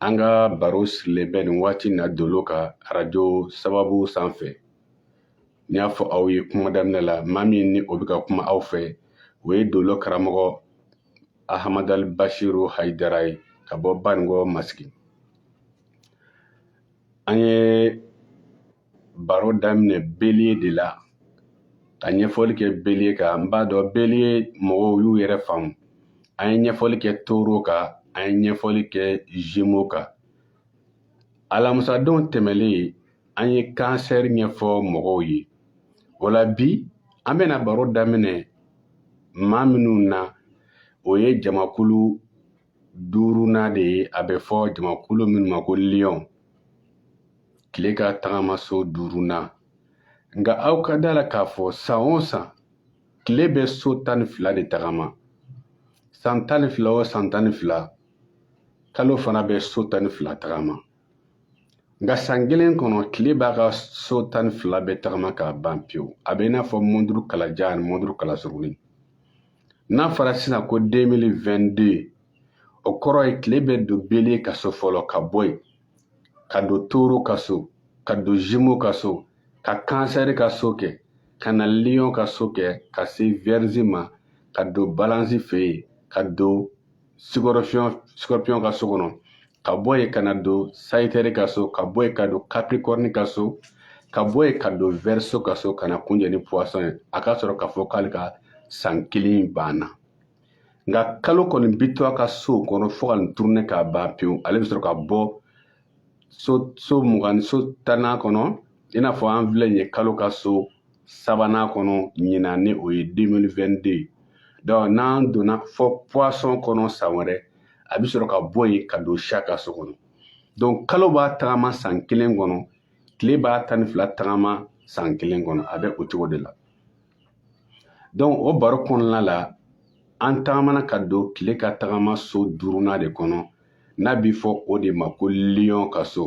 An ka baro sirilen bɛ nin waati na dolo kan arajo sababu sanfɛ n y'a fɔ aw ye kuma daminɛ la maa min ni o bɛ ka kuma aw fɛ o ye dolo karamɔgɔ ahamadali basiru hayidara ye ka bɔ baninkɔ masigi an ye baro daminɛ belie de la ka ɲɛfɔli kɛ belie kan n b'a dɔn belie mɔgɔw y'u yɛrɛ faamu an ye ɲɛfɔli kɛ toro kan an ye ɲɛfɔli kɛ zemo kan alamusadenw tɛmɛlen an ye kansɛri ɲɛfɔ mɔgɔw ye o la bi an bɛna baro daminɛ maa minnu na o ye jamakulu duurunan de ye a bɛ fɔ jamakulu minnu ma ko liyɔn tile ka tagamaso duurunan nka aw ka da la k'a fɔ san o san tile bɛ so tan ni fila de tagama san tan ni fila o san tan ni fila kalo fana bɛ so tan ni fila tagama nka san kelen kɔnɔ tile b'a ka so tan ni fila bɛɛ tagama k'a ban pewu a bɛ i n'a fɔ mɔnturu kalajan ani mɔnturu kalasuruni n'a fɔra sisan ko 2022 o kɔrɔ ye tile bɛ don belie ka so fɔlɔ ka bɔ yen ka don toro ka so ka don zimo ka so ka kansɛri ka so kɛ ka na liyon ka so kɛ ka se vɛrizi ma ka don balansi fɛ yen ka don sikɔrɔpiyɔn ka so kɔnɔ ka bɔ yen ka na don sayitɛri ka so ka bɔ yen ka don kapirikɔrini ka so ka bɔ yen ka don vɛriso ka so ka na kunjɛ ni puwasɔn ye a ka sɔrɔ k'a fɔ k'ale ka san kelen banna nka kalo kɔni bi to a ka so kɔnɔ fo ka nin turune k'a ban pewu ale bɛ sɔrɔ ka bɔ so so mugan so tannan kɔnɔ i n'a fɔ an filɛ nin ye kalo ka so sabanan kɔnɔ ɲinan ni o ye 2022 donc n'an donna fo poisson kɔnɔ san wɛrɛ a bɛ sɔrɔ ka bɔ yen ka don chat ka so kɔnɔ donc kalo b'a tagama san kelen kɔnɔ tile b'a tan ni fila tagama san kelen kɔnɔ a bɛ o cogo de la donc o baro kɔnɔna la an tagamana ka don tile ka tagama so duurunan de kɔnɔ n'a bɛ fɔ o de ma ko lion ka so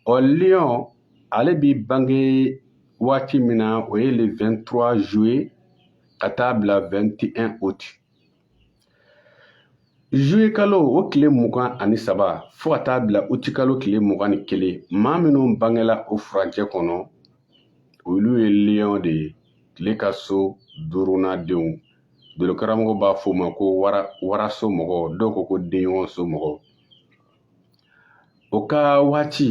ɔ lion ale bi bange waati min na o ye le 23 juillet ka taa bila 21 août Zuye kalo o tile mugan ani saba fo ka taa bila uti kalo tile mugan ni kelen maa minnu bangela o furancɛ kɔnɔ olu ye liyɔn de ye tile ka so duurunan denw dolokaramɔgɔ b'a fɔ o ma ko waraso mɔgɔ dɔw ko ko denɲɔgɔn so mɔgɔ o ka waati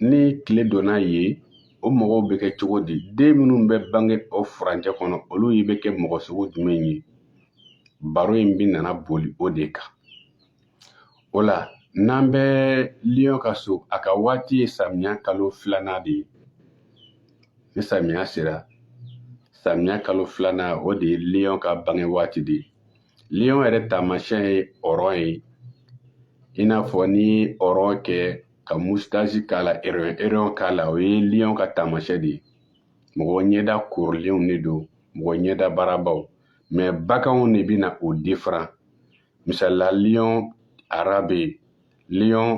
ni tile donna ye o mɔgɔw bɛ kɛ cogo di den minnu bɛ bange o furancɛ kɔnɔ olu ye bɛ kɛ mɔgɔ sugu jumɛn ye baro in bɛna na boli o de kan o la n'an bɛ liyɔn ka so a ka waati ye samiya kalo filanan de ye ni samiya sera samiya kalo filanan o de ye liyɔn ka bange waati de ye Liyɔn yɛrɛ taamasiyɛn ye ɔrɔn ye i n'a fɔ n'i ye ɔrɔn kɛ ka musitasi k'a la ereyɔn ereyɔn k'a la o ye liyɔn ka taamasiyɛn de ye mɔgɔ ɲɛda korilenw de don mɔgɔ ɲɛda baarabaw mɛ baganw de bɛna o diferan misalila liyɔn ara bɛ yen liyɔn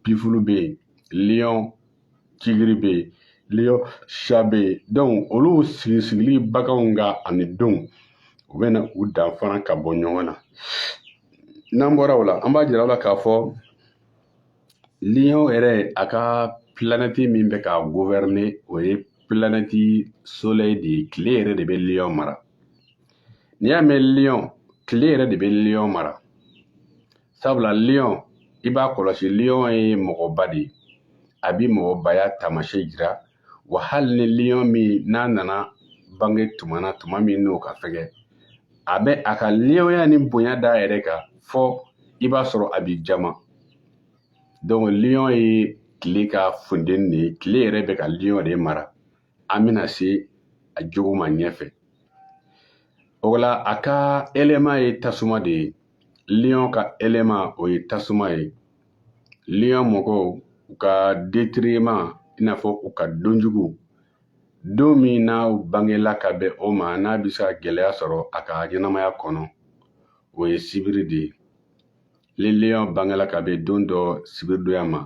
bifulu bɛ yen liyɔn tigiri bɛ yen liyɔn sha bɛ yen donc olu sigi sigili baganw ka ani donw u bɛna u danfara ka bɔ ɲɔgɔn na n'an bɔra o la an b'a jira aw la k'a fɔ liyɔn yɛrɛ a ka pilanɛti min bɛ k'a guvɛrɛne o ye pilanɛti solɛyi de ye tile yɛrɛ de bɛ liyɔn mara n'i y'a mɛn liyɔn tile yɛrɛ de bɛ liyɔn mara sabula liyɔn i b'a kɔlɔsi liyɔn ye mɔgɔba de ye a bi mɔgɔbaya taamasiyɛn jira wa hali ni liyɔn min n'a nana bange tuma na tuma min n'o ka fɛgɛn a bɛ a ka liyɔnya ni bonya d'a yɛrɛ kan fɔ i b'a sɔrɔ a bi jama donc liyɔn ye tile ka funteni de ye tile yɛrɛ bɛ ka liyɔn de mara an bɛna se a jogo ma ɲɛfɛ o la a ka eleman ye tasuma de ye liyɔn ka eleman o ye tasuma ye liyɔn mɔgɔw u ka detiriman i n'a fɔ u ka donjugu don min n'u bangela ka bɛn o ma n'a bɛ se ka gɛlɛya sɔrɔ a ka ɲɛnamaya kɔnɔ o ye sibiri de ye ni liyɔn bangela ka bɛn don dɔ sibiridonya ma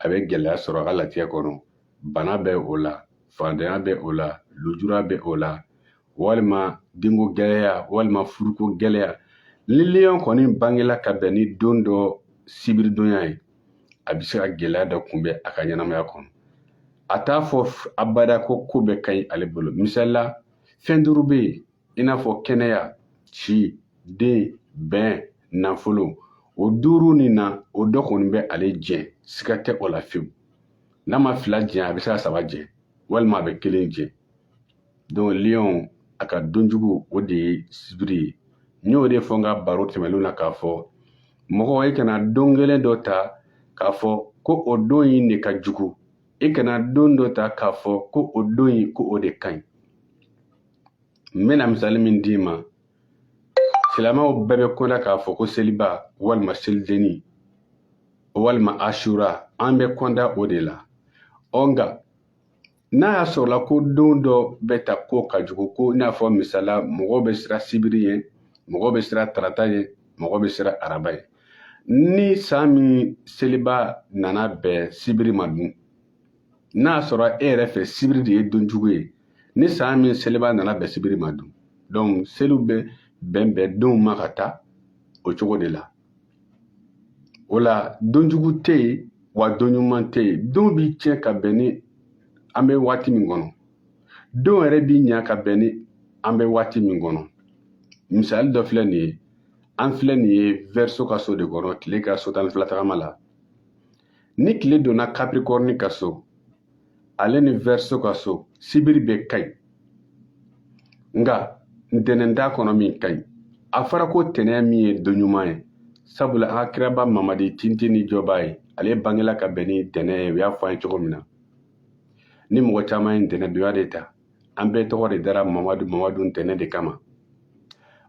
a bɛ gɛlɛya sɔrɔ a ka latigɛ kɔnɔ bana bɛ o la faantanya bɛ o la lujura bɛ o la walima denko gɛlɛya walima furuko gɛlɛya ni liyɔn kɔni bangela ka bɛn ni don dɔ sibiridonya ye a bɛ se ka gɛlɛya dɔ kunbɛn a ka ɲɛnamaya kɔnɔ a t'a fɔ abada ko ko bɛɛ ka ɲi ale bolo misalila fɛn duuru bɛ yen i n'a fɔ kɛnɛya si den bɛn nafolo o duuru nin na o dɔ kɔni bɛ ale jɛ siga tɛ o la fewu n'a ma fila jɛ a bɛ se ka saba jɛ walima a bɛ kelen jɛ donc liyɔn a ka donjugu o de ye sibiri ye n y'o de fɔ n ka baro tɛmɛnenw na k'a fɔ mɔgɔ i kana don kelen dɔ ta k'a fɔ ko o don in de ka jugu i kana don dɔ ta k'a fɔ ko o don in ko o de ka ɲi n bɛna misali min d'i ma silamɛw bɛɛ bɛ kɔnda k'a fɔ ko seliba walima selidenni walima asura an bɛ kɔnda o de la ɔ nka n'a y'a sɔrɔla ko don dɔ bɛ ta ko ka jugu ko i n'a fɔ misali la mɔgɔw bɛ siran sibiri ye mɔgɔw bɛ siran tarata ye mɔgɔw bɛ siran araba ye ni san min seliba nana bɛn sibiri ma dun n'a sɔrɔ e yɛrɛ fɛ sibiri de ye don jugu ye ni san min seliba nana bɛn sibiri ma dun donc seliw bɛ bɛn bɛn donw ma ka taa o cogo de la o la don jugu tɛ yen wa don ɲuman tɛ yen don bɛ tiɲɛ ka bɛn ni an bɛ waati min kɔnɔ don yɛrɛ bɛ ɲa ka bɛn ni an bɛ waati min kɔnɔ misali dɔ filɛ nin ye an filɛ nin ye verseau ka so de kɔnɔ tile ka so tan ni fila tagama la ni tile donna capricorne ka so ale ni verseau ka so sibiri bɛɛ ka ɲi nka ntɛnɛn t'a kɔnɔ min ka ɲi a fɔra ko ntɛnɛn min ye don ɲuman ye sabula an ka kiraba mamadi tintin ni jɔba ye ale bangela ka bɛn ni ntɛnɛn ye u y'a fɔ an ye cogo min na ni mɔgɔ caman ye ntɛnɛn donya de ta an bɛɛ tɔgɔ de dara mamadu mamadu ntɛnɛn de kama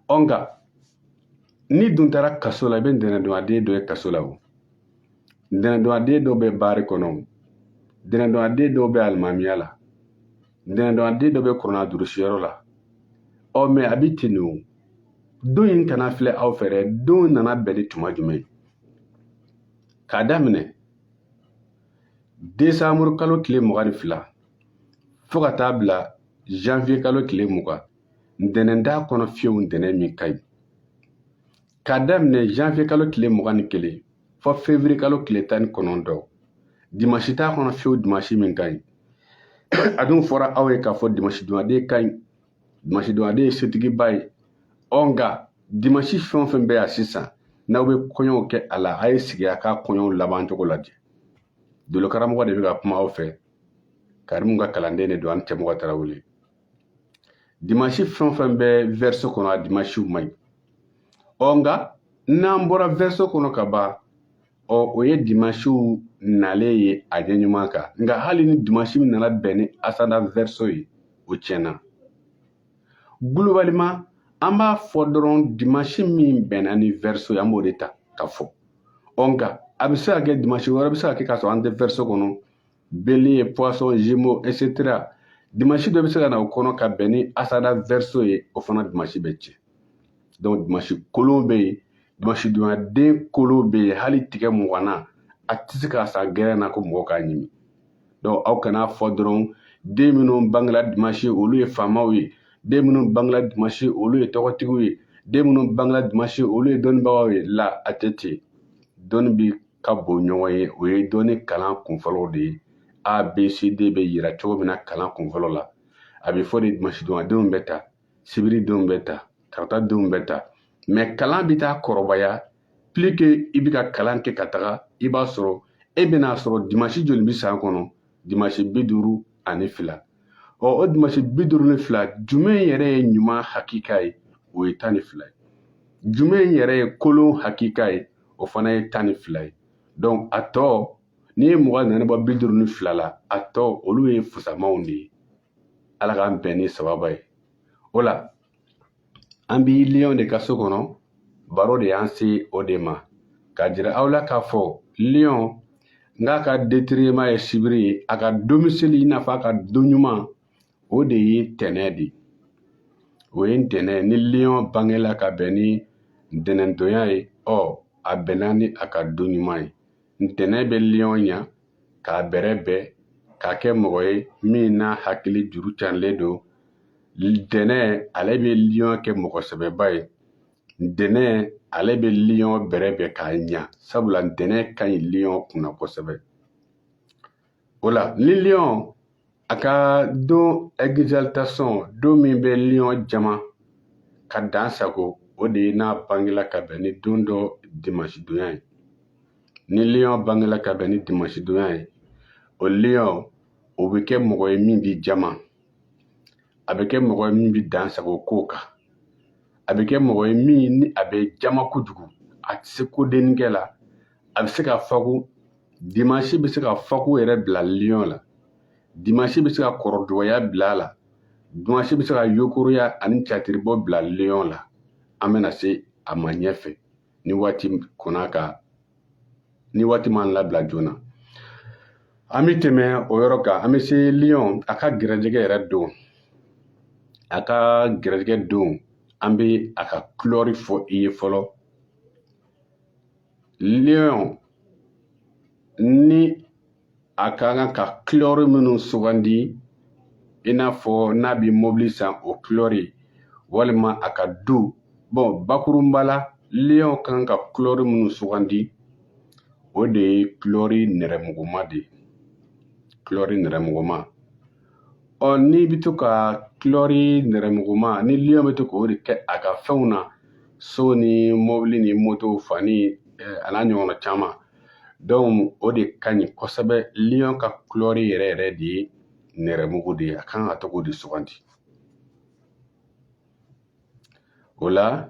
ɔ nka n'i dun taara kaso la i bɛ ntɛnɛndonyaden dɔ ye kaso la o ntɛnɛndonyaden dɔw bɛ baari kɔnɔ ntɛnɛndonyaden dɔw bɛ alimamiya la ntɛnɛndonyaden dɔw bɛ kurana durusiyɔrɔ la ɔ mais a bɛ ten de o don in kana filɛ aw fɛ dɛ don nana bɛn ni tuma jumɛn k'a daminɛ desanburu kalo tile mugan ni fila fo ka taa bila janvier kalo tile mugan ntɛnɛn t'a kɔnɔ fiyewu ntɛnɛn min ka ɲi K'a daminɛ janvier kalo tile mugan ni kelen fo février kalo tile tan ni kɔnɔntɔn dimansi t'a kɔnɔ fiyewu dimansi min ka ɲi a dun fɔra aw ye k'a fɔ dimansi donyaden ka ɲi dimansi donyaden ye setigiba ye ɔ nka dimansi fɛn o fɛn bɛ yan sisan n'aw bɛ kɔɲɔw kɛ a la a ye sigi a ka kɔɲɔw laban cogo lajɛ dolokaramɔgɔ de bɛ ka kuma aw fɛ karimu ka kalanden de don ani cɛmɔgɔ tarawele dimansi fɛn o fɛn bɛ verseau kɔnɔ a dimansiw man ɲi ɔ nka n'an bɔra verseau kɔnɔ ka ban ɔ o ye dimansiw nalen ye a ɲɛ ɲuman kan nka hali ni dimansi min nana bɛn ni ascendant verseau ye o tiɲɛna globalement an b'a fɔ dɔrɔn dimansi min bɛnna ni verseau ye an b'o de ta ka fɔ ɔ nka a bɛ se ka kɛ dimansi wɛrɛ bɛ se ka kɛ k'a sɔrɔ an tɛ verseau kɔnɔ Bélier, poisson, gémeaux, etc. Dimanche dɔ bɛ se ka na o kɔnɔ ka bɛn ni ascendant verseau ye o fana dimanche bɛ tiɲɛ donc dimanche kolon bɛ yen dimanche donyaden kolon bɛ yen hali tigɛ muganna a tɛ se k'a san gɛrɛn na ko mɔgɔ k'a ɲimi donc aw kana fɔ dɔrɔn den minnu bangela dimanche olu ye faamaw ye den minnu bangela dimanche olu ye tɔgɔtigiw ye den minnu bangela dimanche olu ye dɔnnibagaw ye la a tɛ ten dɔnni bi ka bon ɲɔgɔn ye o ye dɔnni kalan kunfɔlɔw de ye a b c d bɛ yira cogo min na kalan kunfɔlɔ la a bɛ fɔ dimasidonyadenw bɛ tan sibiridenw bɛ tan taratadenw bɛ tan mais kalan bɛ taa kɔrɔbaya plus que i bɛ ka kalan kɛ ka taga i b'a sɔrɔ e bɛna a sɔrɔ dimasi joli bɛ san kɔnɔ dimasi bi duuru ani fila ɔ o dimasi bi duuru ni fila jumɛn yɛrɛ ye ɲuman hakika ye o ye tan ni fila ye jumɛn yɛrɛ ye kolon hakika ye o fana ye tan ni fila ye donc a tɔ n'i ye mugan ni naani bɔ bi duuru ni fila la a tɔ olu ye fusamaw de ye ala k'an bɛn ni sababa ye o la an bi liyɔn de ka so kɔnɔ baro de y'an se o de ma k'a jira aw la k'a fɔ liyɔn k'a ka détriment ye sibiri ye a ka domicile i n'a fɔ a ka don ɲuman o de ye ntɛnɛn de ye o ye ntɛnɛn ni liyɔn bangela ka bɛn ni ntɛnɛndonya ye ɔ a bɛnna ni a ka don ɲuman ye ntɛnɛn bɛ liyɔn ɲa k'a bɛrɛbɛn k'a kɛ mɔgɔ ye min n'a hakili juru carilen don ntɛnɛn ale bɛ liyɔn kɛ mɔgɔ sɛbɛba ye ntɛnɛn ale bɛ liyɔn bɛrɛbɛn k'a ɲa sabula ntɛnɛn ka ɲi liyɔn kunna kosɛbɛ o la ni liyɔn a ka don exaltation don min bɛ liyɔn jama ka dan sago o de ye n'a bangela ka bɛn ni don dɔ dimasidonya ye ni liyɔn bangela ka bɛn ni dimasidonya ye o liyɔn o bɛ kɛ mɔgɔ ye min b'i jama a bɛ kɛ mɔgɔ ye min bɛ dan sago ko kan a bɛ kɛ mɔgɔ ye min ni a bɛ jama kojugu a tɛ se kodenninkɛ la a bɛ se ka fako dimansi bɛ se ka fako yɛrɛ bila liyɔn la dimansi bɛ se ka kɔrɔdɔgɔya bila a la dimansi bɛ se ka yokoroya ani catiribɔ bila liyɔn la an bɛna se a ma ɲɛfɛ ni waati kɔnɔ ka ni waati m'an labila joona an bɛ tɛmɛ o yɔrɔ kan an bɛ se liyɔn a ka gɛrɛjɛgɛ yɛrɛ don a ka gɛrɛjɛgɛ don an bɛ a ka kulɔri fɔ i ye fɔlɔ liyɔn ni a ka kan ka kulɛri minnu sugandi i n'a fɔ n'a bɛ mobili san o kulɛri walima a ka du bon bakurunba la liyɔn ka kan ka kulɛri minnu sugandi o de ye kulɛri nɛrɛmuguma de ye kulɛri nɛrɛmuguma ɔ n'i bɛ to ka kulɛri nɛrɛmuguma ni liyɔn bɛ to k'o de kɛ a ka fɛnw na so ni mobili ni moto fani eh, a n'a ɲɔgɔnna caman dɔnku o de ka ɲi kosɛbɛ liyɔn ka kulɛri yɛrɛ yɛrɛ de ye nɛrɛmugu de ye a kan ka to k'o de sugandi o la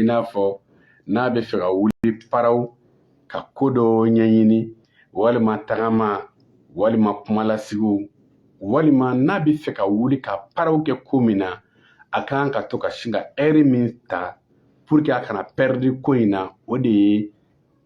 i n'a fɔ n'a bɛ fɛ ka wuli paraw ka ko dɔ ɲɛɲini walima tagama walima kumalasigiw walima n'a bɛ fɛ ka wuli ka paraw kɛ ko min na a kan ka to ka sin ka ɛri min ta puruke a kana pɛridi ko in na o de ye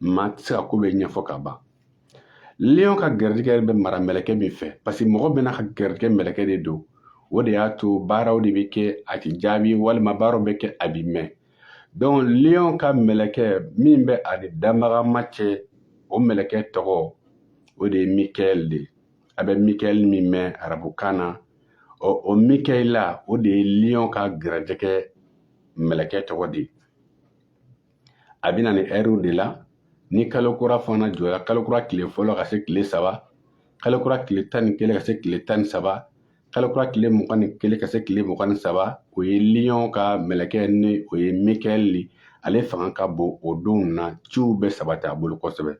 maa tɛ se ka ko bɛɛ ɲɛfɔ ka ban liyɔn ka garijɛgɛ bɛ mara mɛlɛkɛ min fɛ paseke mɔgɔ bɛɛ n'a ka garijɛgɛ mɛlɛkɛ de don o de y'a to baaraw de bɛ kɛ a tɛ jaabi walima baaraw bɛ kɛ a bi mɛn donc liyɔn ka mɛlɛkɛ min bɛ a ni danbagama cɛ o mɛlɛkɛ tɔgɔ o de ye mikaɛl de ye a bɛ mikaɛl min mɛn arabukan na ɔ o mikaɛla o de ye liyɔn ka garijɛgɛ mɛlɛkɛ tɔgɔ de ye a bɛ na ni ɛriw de la ni kalo kura fana jɔra kalo kura tile fɔlɔ ka se tile saba kalo kura tile tan ni kelen ka se tile tan ni saba kalo kura tile mugan ni kelen ka se tile mugan ni saba o ye liyɔn ka mɛlɛkɛ ni o ye mikaɛl de ale fanga ka bon o donw na ciw bɛ sabati a bolo kosɛbɛ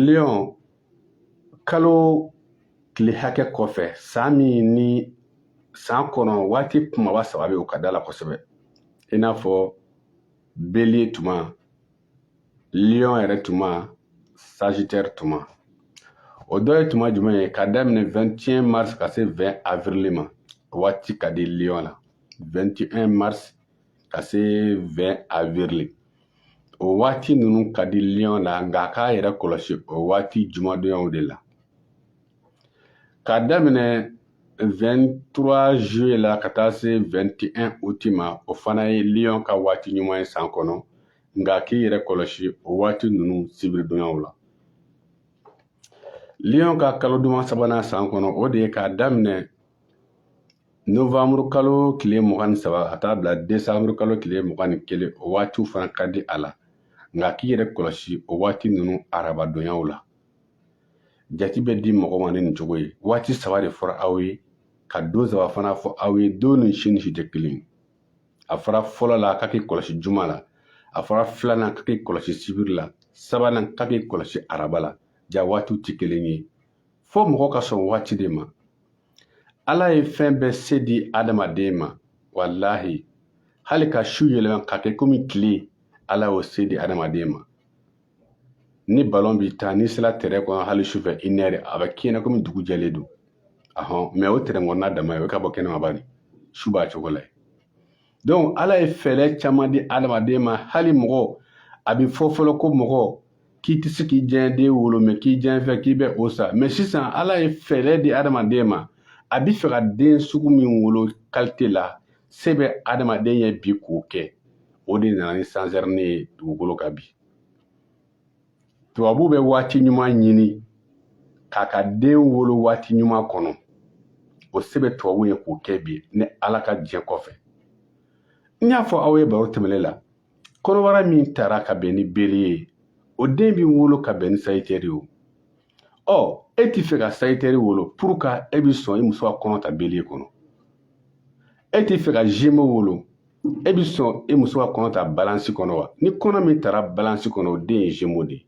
liyɔn kalo tile hakɛ kɔfɛ san min ni san kɔnɔ waati kumaba saba bɛ o ka d'a la kosɛbɛ i n'a fɔ bélier tuma lion yɛrɛ tuma sagitaire tuma o dɔ ye tuma jumɛn ye ka daminɛ 21 mars ka se 20 avril ma waati ka di lion na 21 mars ka se 20 avril o waati ninnu ka di liyɔn na nka a k'a yɛrɛ kɔlɔsi o waati jumadonyaw de la ka daminɛ 23 juillet la ka taa se 21 août ma o fana ye liyɔn ka waati ɲuman ye san kɔnɔ nka k'i yɛrɛ kɔlɔsi o waati ninnu sibiridonyaw la liyɔn ka kalo duman sabanan san kɔnɔ o de ye k'a daminɛ Nowanburu kalo tile mugan ni saba ka taa bila desanburu kalo tile mugan ni kelen o waatiw fana ka di a la nka k'i yɛrɛ kɔlɔsi o waati ninnu arabadonyaw la jati bɛ di mɔgɔ ma ni nin cogo ye waati saba de fɔra aw ye ka don saba fana fɔ aw ye don ni si ni si tɛ kelen ye a fɔra fɔlɔ la k'a k'i kɔlɔsi juma la a fɔra filanan k'a k'i kɔlɔsi sibiri la sabanan k'a k'i kɔlɔsi araba la ja waatiw tɛ kelen ye fo mɔgɔ ka sɔn waati de ma ala ye fɛn bɛɛ se di adamaden ma walahi hali ka su yɛlɛma ka kɛ komi tile ala y'o se di adamaden ma ni balon bi tan n'i sela tɛrɛn kɔnɔ hali sufɛ i nɛrɛ a bɛ k'i ɲɛna komi dugu jɛlen don ahɔn mɛ o tɛrɛn kɔnɔna dama ye e ka bɔ kɛnɛma bani su b'a cogo la yen donc ala ye fɛɛrɛ caman di adamaden ma hali mɔgɔ a bɛ fɔ fɔlɔ ko mɔgɔ k'i tɛ se k'i diyanye den wolo mɛ k'i diyanye fɛn k'i bɛ o san mɛ sisan ala ye fɛɛrɛ di adamaden ma a bɛ fɛ ka den sugu min wolo kalite la se bɛ adamaden ye bi k'o kɛ o de nana ni sezariyɛni ye dugukolo kan bi tubabu bɛ waati ɲuman ɲini k'a ka den wolo waati ɲuman kɔnɔ o se bɛ tubabu ye k'o kɛ bi ni ala ka diɲɛ kɔfɛ n y'a fɔ aw ye baro tɛmɛnen la kɔnɔbara min tara ka bɛn ni beliye ye o den bɛ wolo ka bɛn ni sayitɛri ye ɔ e ti fɛ ka sayitɛri wolo pour ka e bi sɔn i muso ka kɔnɔ ta beliye kɔnɔ e ti fɛ ka jemo wolo e bi sɔn i muso ka kɔnɔ ta balansi kɔnɔ wa ni kɔnɔ min tara balansi kɔnɔ o den ye jemo de ye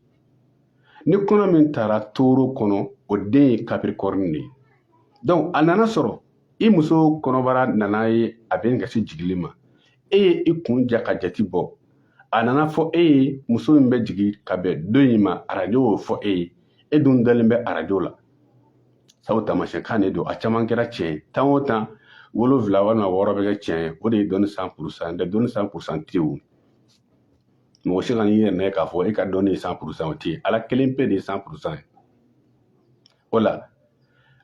ni kɔnɔ min tara toro kɔnɔ o den ye kapirikɔrni de ye donc a nana sɔrɔ i muso kɔnɔbara nana ye a bɛ ka se jigili ma e ye i kun ja ka jati bɔ a nana fɔ e ye muso min bɛ jigin ka bɛn don in ma arajo y'o fɔ e ye e dun dalen bɛ arajo la sabu taamasiyɛn kan de don a caman kɛra tiɲɛ ye tan o tan wolonfila walima wɔɔrɔ bɛ kɛ tiɲɛ ye o de ye dɔnni san purusan tɛ dɔnni san purusan tɛ o mɔgɔ si kan'i yɛrɛ minɛ k'a fɔ e ka dɔnni ye san purusan o tɛ ala kelen pe de ye san purusan ye o la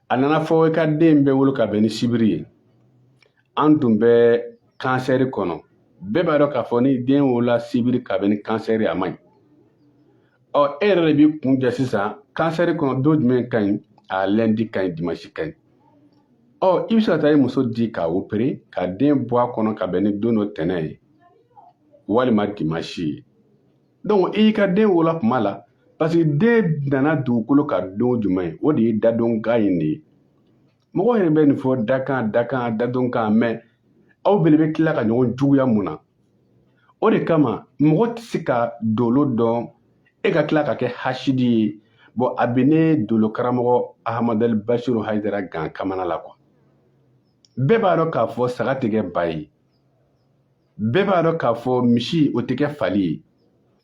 a nana fɔ i ka den bɛ wolo ka bɛn ni sibiri ye an tun bɛ kansɛri kɔnɔ bɛɛ b'a dɔn k'a fɔ ni den wolola sibiri ka bɛn ni kansɛri a man ɲi ɔ e yɛrɛ de b'i kun ja sisan kansɛri kɔnɔ don jumɛn ka ɲi a lɛndi ka ɲi dimansi ka ɲi ɔ i bɛ se ka taa i muso di k'a opere ka den bɔ a kɔnɔ ka bɛn ni don dɔ ntɛnɛn ye walima dimansi ye donc i y'i ka den wolola tuma la parce que den nana dugukolo kan don jumɛn ye o de ye dadonkan in de ye mɔgɔ yɛrɛ bɛ nin fɔ dakan dakan dadonkan mais aw bele bɛ tila ka ɲɔgɔn juguya mun na o de kama mɔgɔ tɛ se ka dolo dɔn e ka tila ka kɛ hasidi ye bon a bɛ ne dolo karamɔgɔ ahamadali basiru hayidara gan kamana la quoi bɛɛ b'a dɔn k'a fɔ saga tɛ kɛ ba ye bɛɛ b'a dɔn k'a fɔ misi o tɛ kɛ fali ye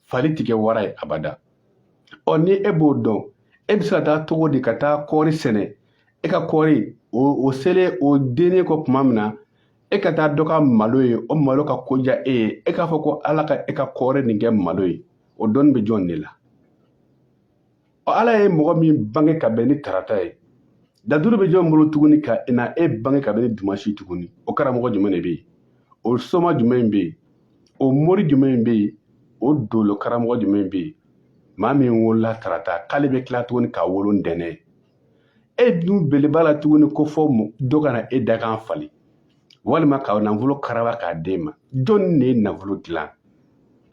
fali tɛ kɛ wara ye abada ɔ ni e b'o dɔn e bɛ se ka taa cogo di ka taa kɔɔri sɛnɛ e ka kɔɔri o o selen o dennen kɔ tuma min na e ka taa dɔ ka malo ye o malo ka ko diya e ye e k'a fɔ ko ala ka e ka kɔɔri nin kɛ malo ye o dɔnni bɛ jɔn de la ala ye mɔgɔ min bange ka bɛn ni tarata ye dalilu bɛ jɔn bolo tuguni ka na e bange ka bɛn ni dimasi tuguni o karamɔgɔ jumɛn de bɛ yen o soma jumɛn bɛ yen o mori jumɛn bɛ yen o dolo karamɔgɔ jumɛn bɛ yen maa min wolola tarata k'ale bɛ tila tuguni ka wolo ntɛnɛn e dun bele b'a la tuguni ko fo dɔ ka na e dakan falen walima ka nafolo karaba k'a d'e ma jɔnni de ye nafolo dilan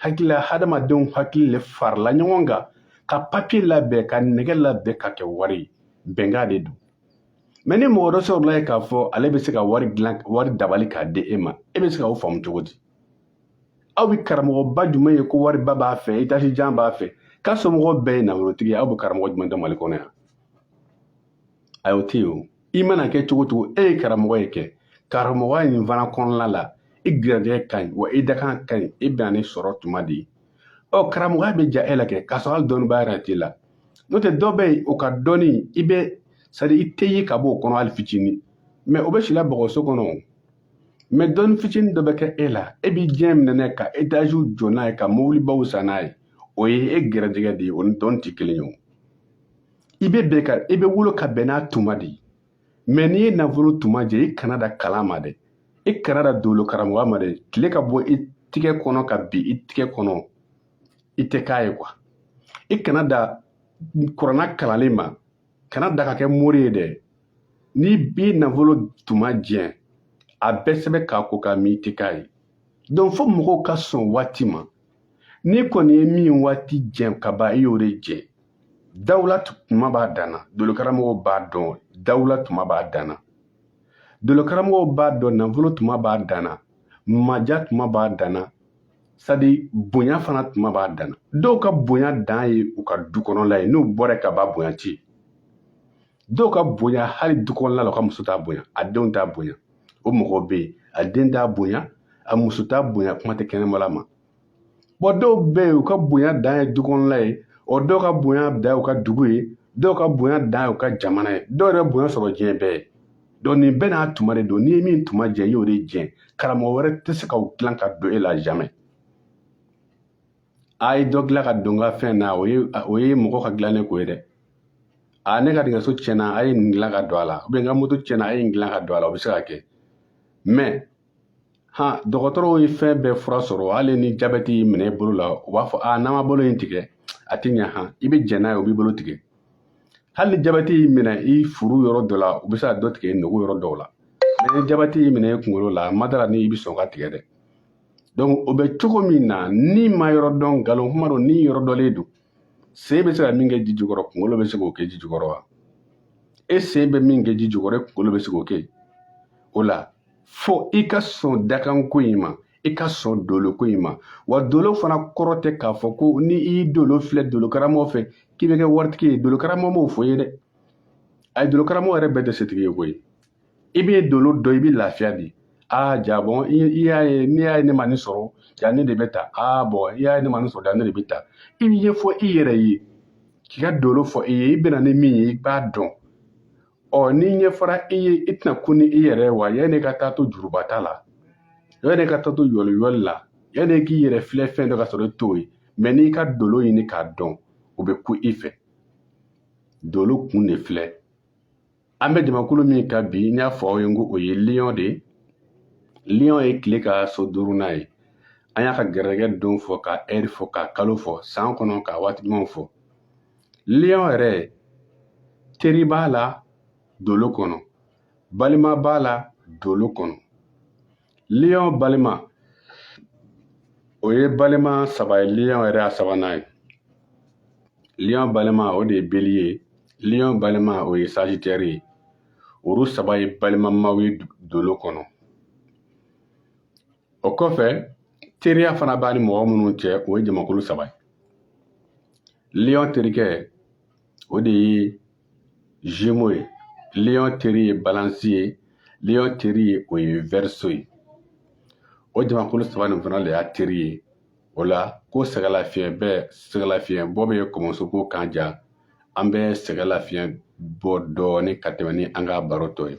hakilila hadamadenw hakili le farila ɲɔgɔn kan ka papiye labɛn ka nɛgɛ labɛn ka kɛ wari ye bɛnkan de don mais ni mɔgɔ dɔ sɔrɔla ye k'a fɔ ale bɛ se ka wari dilan wari dabali k'a di e ma e bɛ se ka o faamu cogo di aw bɛ karamɔgɔba jumɛn ye ko wariba b'a fɛ etazi jan b'a fɛ k'a somɔgɔ bɛɛ ye nafolotigi ye aw bɛ karamɔgɔ jumɛn dɔn mali kɔnɔ yan ayi o tɛ yen o i mana kɛ cogo cogo e ye karamɔgɔya kɛ karamɔgɔya nin fana kɔnɔna la i garijɛgɛ ka ɲi wa i dakan ka ɲi i bɛnna ni sɔrɔ tuma de ye karamɔgɔya bɛ diya e la kɛ k'a sɔrɔ hali dɔnniba yɛrɛ t'i la n'o tɛ dɔ bɛ yen o ka dɔnni i bɛ c'est à dire i tɛ ye ka bɔ o kɔnɔ hali fitinin mais o bɛ sila bɔgɔso kɔnɔ mais dɔnni fitinin dɔ bɛ kɛ e la e b'i diɲɛ minɛ n'a ye ka etaziw jɔ n'a ye ka mobilibaw san n'a ye o ye e gɛrɛjɛgɛ de ye o ni dɔnni tɛ kelen ye o i bɛ bɛn ka i bɛ wolo ka bɛn n'a tuma de ye mais n'i ye nafolo tuma jɛ i kana da kalan ma dɛ i kana da dolo karamɔgɔya ma dɛ tile ka bɔ i tigɛ kɔnɔ ka bin i tigɛ kɔnɔ i tɛ k'a ye quoi i kana da kuranna kalanlen ma kana da ka kɛ mori ye dɛ n'i b'i nafolo tuma jɛn a bɛɛ sɛbɛn k'a ko k'a min i tɛ k'a ye donc fo mɔgɔw ka sɔn waati ma n'i kɔni ye min waati jɛn ka ban i y'o de jɛn dawula tuma b'a danna dolokaramɔgɔw b'a dɔn dawula tuma b'a danna dolokaramɔgɔw b'a dɔn nafolo tuma b'a danna madiya tuma b'a danna sadi bonya fana tuma b'a danna dɔw ka bonya dan ye u ka du kɔnɔla ye n'u bɔra ka ba bonya ci dɔw ka bonya hali du kɔnɔla la u ka muso t'a bonya a denw t'a bonya o mɔgɔw bɛ yen a den t'a bonya a muso t'a bonya kuma tɛ kɛnɛmala ma bon dɔw bɛ yen u ka bonya dan ye du kɔnɔla ye o dɔw ka bonya dan ye u ka dugu ye dɔw ka bonya dan ye u ka jamana ye dɔw yɛrɛ ka bonya sɔrɔ diɲɛ bɛɛ ye donc nin bɛɛ n'a tuma de don n'i ye min tuma jɛ i y'o de jɛ karamɔgɔ wɛrɛ tɛ se k'o dilan ka don e la jamais a ye dɔ dilan ka don n ka fɛn na o ye mɔgɔ ka dilannen ko ye dɛ a ne ka nɛgɛso tiɲɛna a ye nin dilan ka don a la ou bien n ka moto tiɲɛna a ye nin dilan ka don a la o bɛ se ka kɛ mais ha dɔgɔtɔrɔw ye fɛn bɛɛ fura sɔrɔ hali ni jabɛti y'i minɛ i bolo la u b'a fɔ a n'an ma bolo in tigɛ a tɛ ɲa han i bɛ jɛn n'a ye u b'i bolo tigɛ hali ni jabɛti y'i minɛ i furu yɔrɔ dɔ la u bɛ se ka dɔ tigɛ i nugu yɔrɔ dɔw la ni jabɛti y'i minɛ i kunkolo la n ma da a ra ni i bɛ sɔn k'a tigɛ dɛ donc o bɛ cogo min na n'i m'a yɔrɔ dɔn nkalon kuma don ni yɔrɔ dɔnnen don sen bɛ se ka min kɛ ji jukɔrɔ kunkolo bɛ se k'o kɛ ji jukɔrɔ wa e sen bɛ min kɛ ji jukɔrɔ e kunkolo bɛ se k'o kɛ o la fo i ka sɔn dakanko in ma i ka sɔn doloko in ma wa dolo fana kɔrɔ tɛ k'a fɔ ko ni i y'i dolo filɛ dolokaramɔgɔ fɛ k'i bɛ kɛ waritigi ye dolokaramɔgɔ m'o fɔ i ye dɛ ayi dolokaramɔgɔ yɛrɛ bɛɛ tɛ setigi ye koyi i bɛ dolo dɔn i bɛ lafiya di aa ja bon i y'a ye n'i y'a ye ne ma nin sɔrɔ ja ne de bɛ tan aa bon i y'a ye ne ma nin sɔrɔ ja ne de bɛ tan i b'a ɲɛfɔ i yɛrɛ ye k'i ka dolo fɔ i ye i bɛ na ni min ye i b'a dɔn ɔ ni ɲɛfɔra i ye i tɛna kun ni i yɛrɛ wa yanni ka taa to jurubata la yanni ka taa to yɔliyɔli la yanni k'i yɛrɛ filɛ fɛn dɔ ka sɔrɔ i t'o ye mais n'i ka dolo ɲini k'a dɔn o bɛ kun i fɛ dolo kun de filɛ an bɛ jamakulu min kan bi n y'a fɔ aw ye ko o ye lion de ye lion ye tile ka so duurunan ye an y'a ka gɛrɛjɛgɛ don fɔ ka heure fɔ ka kalo fɔ san kɔnɔ ka waati ɲumanw fɔ lion yɛrɛ teri b'a la dolo kɔnɔ balima b'a la dolo kɔnɔ lion balima o ye balima saba ye lion yɛrɛ y'a sabanan ye lion balima o de ye bélier ye lion balima o ye sagittaire ye olu saba ye balimamaw ye dolo kɔnɔ o kɔfɛ teriya fana b'a ni mɔgɔ minnu cɛ o ye jamakulu saba ye lion terikɛ o de ye gémeaux ye lion teri ye balance ye lion teri ye o ye verseau ye o jamakulu saba nin fana de y'a teri ye o la ko sɛgɛlafiɲɛ bɛ sɛgɛlafiɲɛ bɔ bɛ kɔmɔsoko kan ja an bɛ sɛgɛlafiɲɛ bɔ dɔɔnin ka tɛmɛ ni an ka baro tɔ ye